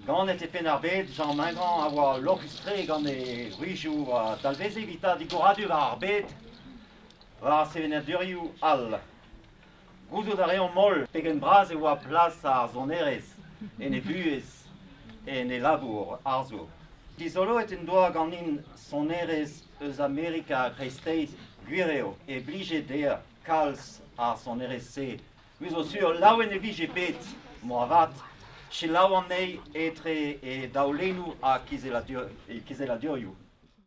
Ganet e Penn-ar-Bed, Jean Mingrand a oa lorc'hus-tre gant e wrizioù a dalveze evitañ digoradur ar bed war sevenadurioù all. Gouzout a reomp holl pegen bras e oa plas ar sonerezh en e vuhez en e labour arzour. Dizoloet en doa ganin sonerezh eus Amerika kreisteiz gwir eo e blije dezhañ kalz ar sonerezh-se. Me zo sur laouen e vije bet, moarvat, selaou anezhi etre e daolennoù ha kizelladurioù.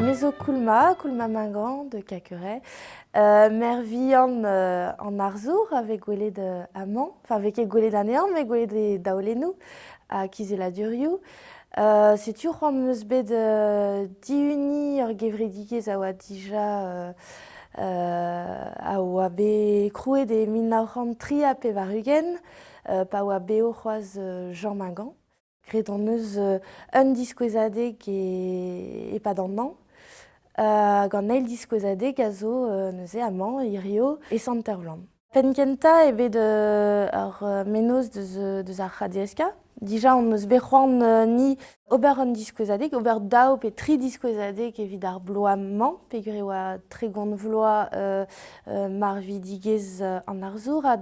Me zo Koulma, Koulma-Magan de Caqueret, euh, mère vihan euh, en Arzour avec gwelet euh, aman, enfin avec gwelet anean, met gwelet e daolenou à Kizela-Duriou. Euh, setu c'hoant meus bet euh, diuni ur gevredigezh a oa dija euh, euh, a oa bet krouet e mil nav c'hant tri ha pevar-ugent. pa oa bev c'hoazh Jean Mingan. Graet hon eus un diskouezadeg e-pad an hañv. Gant un eil diskouezadeg a zo neuze amañ, hirio, e Sant-Ervlan. Penn-kentañ eo bet ar mennozh deus ar CADSK. Dija hon eus bet c'hoant ni ober un diskouezadeg, ober daou pe tri diskouezadeg evit ar bloaz-mañ, peogwir e oa tregont vloaz marvidigezh an arzour. Ha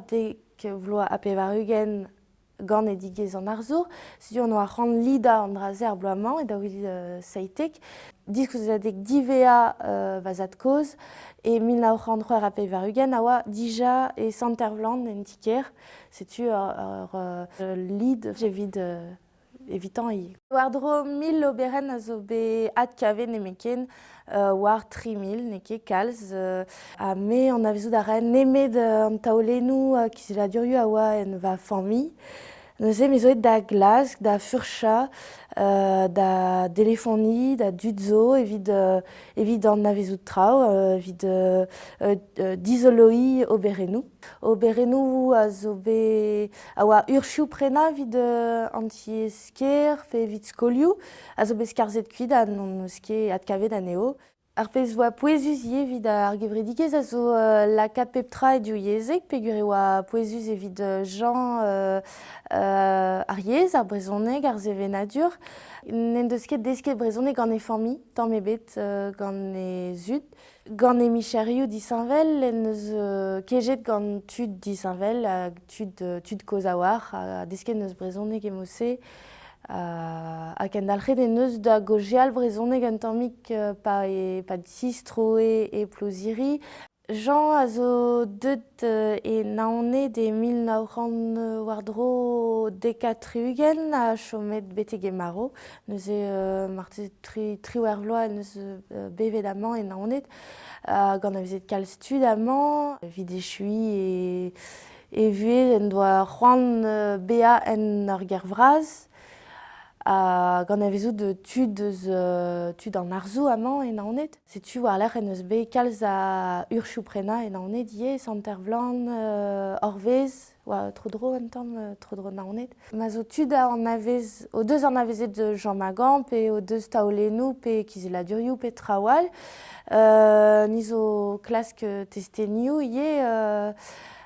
vloaz ha pevar-ugent ganedigezh an arzour. Setu on oa c'hoant lidañ an dra-se ar bloaz-mañ e daoulid uh, seitek. Diskouezadeg Divea uh, va zad-kozh e mil nav c'hant c'hwec'h ha pevar-ugent a oa dija e Sant-Ervlan en ti-kêr. Setu ur, ur uh, lid evit uh, evitañ War-dro mil oberenn a zo bet adkavet nemetken, euh, war tri mil, n'eo ket kalz. Euh, ha me anavezout a rae nemet euh, an taolennoù uh, kizelladurioù a oa en va familh. Neuze me zo aet da Glask, da furchañ, euh, da delefonie, da dud zo evit, euh, evit anavezout traoù, euh, evit euh, euh, dizoloiñ oberennoù. Oberennoù a zo bet a oa ursioù prenañ evit an tiez-kêr pe evit skolioù a zo bet skarzhet kuit ha n'hon eus ket adkavet anezho. Ar pezh 'oa pouezus ivez evit ar gevredigezh a zo lakaat pep tra e div yezheg peogwir e oa pouezus evit Jean ar yezh, ar brezhoneg, ar sevenadur. N'en deus ket desket brezhoneg gant e familh tamm ebet, gant he zud. Gant he micherioù disheñvel en deus kejet gant tud disheñvel hag tud kozh-a-walc'h. Desket en deus brezhoneg e Mosсе ha kendalc'het en deus da gaozeal brezhoneg un tammig pa sistroe e Ploziri. Jean a zo deuet E Naoned e mil nav c'hant war-dro dek ha tri-ugent a chomet betek e marv. Neuze marteze tri, triwec'h vloaz en deus bevet amañ e Naoned. gant avezet kalz tud amañ. Evit echuiñ e, e vuhez en doa c'hoant bezañ en ur gêr vras. gant avezout tud eus tud an arzoù amañ e Naoned. Setu war-lerc'h en deus bet kalz a urchoù-prenañ e Naoned ivez, Sant-Ervlan, Orvez, oa tro-dro un tamm, tro-dro Naoned. Ma zo tud anavez, o deus anavezet Jean Magan pe o deus taolennoù pe kizelladurioù pe traoù all, ni zo klask testenioù ivez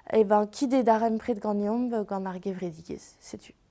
e ben kit e darempred ganeomp gant ar gevredigezh, setu.